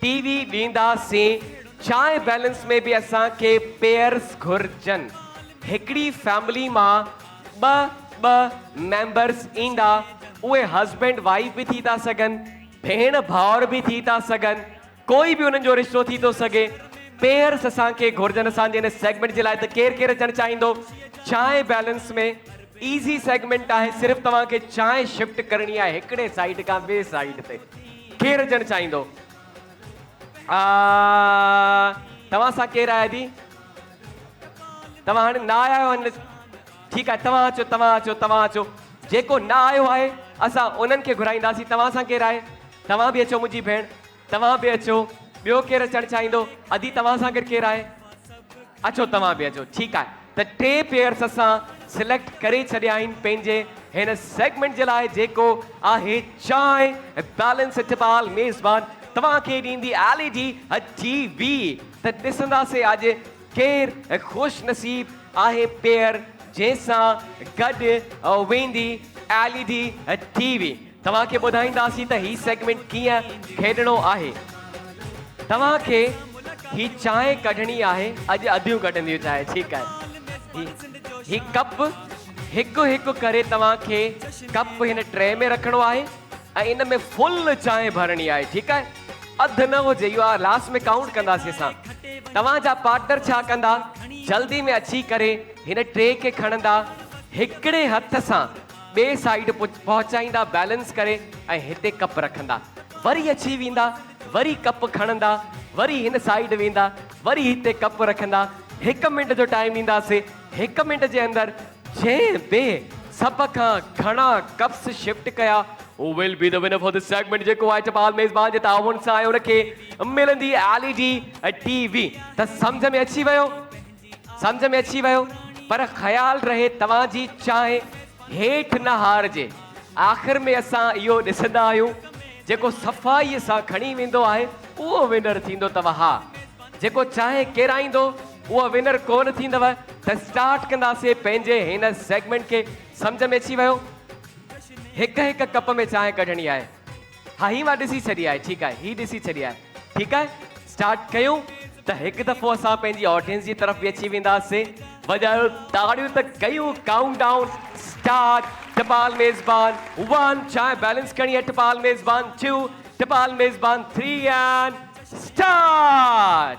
ٽي وي ڏيندا سين چانهه بيلنس ۾ به اسان کي پيئرس گهرجن هڪڙي فيملي مان ٻه ٻه ميمبرس ايندا اهي هسبينڊ وائيف به ٿي ٿا سگهن ڀيڻ ڀائر به ٿي ٿا سگهن ڪوئي به انهن جو رشتو ٿي ٿو سگهي پيئرس اسان کي گهرجن اسان جي هن سيگمينٽ جي لاء ته ڪير ڪير اچڻ چاهيندو چانهه بيلنس ۾ ايزي سيگمينٽ آهي صرف توهان کي چانهه شفٽ ڪرڻي آهي هڪڙي سائيڊ کان ٻي سائيڊ تي ڪير هجڻ چاهيندو؟ آء توهان سان ڪير آهي دي؟ توهان هاڻي نه آيا آهيو هن ٺيڪ آهي توهان اچو توهان اچو توهان اچو جيڪو نه آيو آهي اسان انهن کي گهرائينداسين توهان سان ڪير آهي؟ توهان به اچو منهنجي ڀيڻ توهان به اچو ٻيو ڪير اچڻ چاهيندو؟ ادي توهان سان گڏ ڪير آهي؟ اچو توهان به اچو ٺيڪ آهي. ته ٽي پيئرس اسان سليڪٽ ڪري ڇڏيا آهن پنهنجي هن سيگمينٽ جي لاء جيڪو آهي چانهه دالن سٺ بال ميزبان توهان کي ڏيندي ايل اي ڊي ٽي وي ته ڏسنداسي اڄ ڪير خوش نصيب آهي پيئر جنهن سان گڏ ويندي ايل اي ڊي ٽي وي. توهان کي ٻڌائينداسين ته هي سيگمينٽ ڪيئن کيڏڻو آهي توهان کي هي چانهه ڪڍڻي آهي اڄ اديون ڪڍنديون چانهه ٺيڪ آهي هي هي ڪپ هڪ هڪ ڪري توهان کي ڪپ هن ٽري ۾ رکڻو آهي ۽ ان ۾ فل چانهه ڀرڻي آهي ٺيڪ آهي اڌ نه هجي اهو لاس ۾ ڪائونٽ ڪنداسين اسان توهان جا پارٽنر ڇا ڪندا جلدي ۾ اچي ڪري هن ٽري کي کڻندا هڪڙي هٿ سان ٻئي سائيڊ پهچائيندا بيلنس ڪري ۽ هتي ڪپ رکندا وري اچي ويندا وري ڪپ کڻندا وري هن سائيڊ ويندا وري هتي ڪپ رکندا هڪ منٽ جو ٽائيم ڏينداسي هڪ منٽ جي اندر جنهن به سڀ کان گهڻا ڪپس شفٽ ڪيا هو will be the winner for this segment جيڪو وائٽ بال ميزبان جي تعاون سان آيو ان کي ملندي ايل اي ڊي ٽي وي ته سمجهه ۾ اچي ويو سمجهه ۾ اچي ويو پر خيال رهي توهان جي چانهه هيٺ نه هارجي. آخر ۾ اسان اهو ڏسندا آهيون جيڪو صفائي سان کڻي ويندو آهي اهو ونر ٿيندو تهه ها جيڪو چانهه ڪيرائيندو اهو ونر ڪونه ٿيندو ته اسٽارٽ ڪنداسي پنهنجي هن سيگمينٽ کي سمجهه ۾ اچي ويو هڪ هڪ ڪپ ۾ چانهه ڪڍڻي آهي. ها هي مان ڏسي ڇڏي آهي ٺيڪ آهي هي ڏسي ڇڏي آهي ٺيڪ آهي اسٽارٽ ڪيون ته هڪ دفعو اسان پنهنجي آڊينس جي طرف به اچي وينداسين وڄايو تاڙيون ته ڪيون ڪائونٽ ڊائون اسٽارٽ ٽپال ميزبان ون چانهه بيلنس کڻي اچ ٽپال ميزبان ٽو ٽپال ميزبان three and start.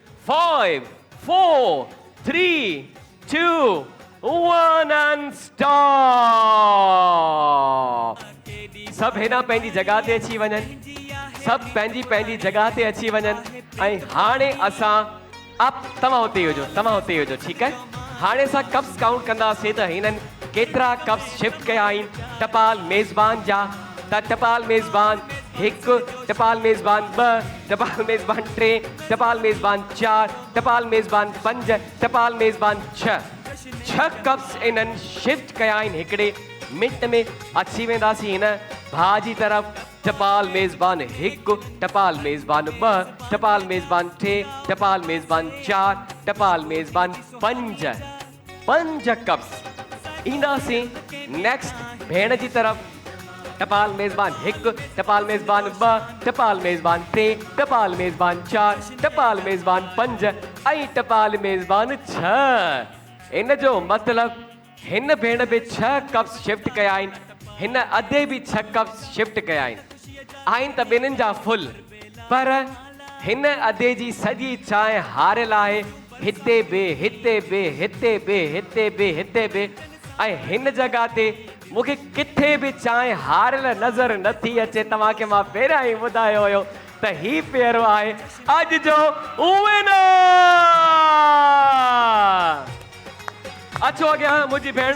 Five, four, three, two, one and stop! سڀ هيڏانهن پنهنجي جڳهه تي اچي وڃن. سڀ پنهنجي پنهنجي جڳهه تي اچي وڃن ۽ هاڻي اسان اپ توهان اتي ئي هجو توهان اتي ئي هجو ٺيڪ آهي هاڻي اسان ڪپس ڪائونٽ ڪنداسين ته هنن ڪيترا ڪپس شفٽ ڪيا آهن ٽپال ميزبان جا ته ٽپال ميزبان هڪ، ٽپال ميزبان ٻه، ٽپال ميزبان ٽي، ٽپال ميزبان چار، ٽپال ميزبان پنج، ٽپال ميزبان ڇهه. ڇهه ڪپس انهن شفٽ ڪيا آهن هڪڙي منٽ ۾ اچي وينداسين هن ڀاء جي طرف ٽپال ميزبان هڪ، ٽپال ميزبان ٻه، ٽپال ميزبان ٽي، ٽپال ميزبان چار، ٽپال ميزبان پنج. پنج قبض اينداسين نيڪسٽ ڀيڻ جي طرف ٽپال ميزبان هڪ ٽپال ميزبان ٻه ٽپال ميزبان ٽي ٽپال ميزبان چار ٽپال ميزبان پنج ۽ ٽپال ميزبان ڇهه ان جو مطلب هن ڀيڻ به ڇهه قبض شفٽ ڪيا آهن هن ادي به ڇهه قبض شفٽ ڪيا آهن آهن ته ٻنهن جا فل پر هن ادي جي سڄي چانهه هاريل آهي، هتي به، هتي به، هتي به، هتي به، هتي به ۽ هن جڳهه تي مون کي ڪٿي به چانهه هاريل نظر نه ٿي اچي. توهان کي مان پهريان ئي ٻڌايو هيو ته هي پيرو آهي اڄ جو وينر. اچو اڳيان منهنجي ڀيڻ.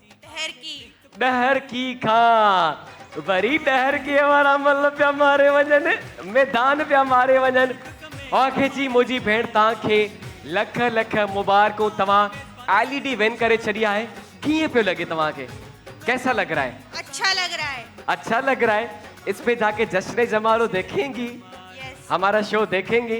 ڏهرڪي. ڏهرڪي کان وري ڏهرڪيء وارا مل پيا ماري وڃن، ميدان پيا ماري وڃن. آخر چي موجي ڀيڻ توهان کي لک لک مبارڪون توهان ايل اي ڊي ون ڪري ڇڏي آهي ڪيئن پيو لڳي توهان کي ڪيسا لڳ رها هي. اڇا لڳ رها هي. اڇا لڳ رها هي اسپي جا ڪي جشن جمارو ديکينگي. يس. همارا شو ديکينگي.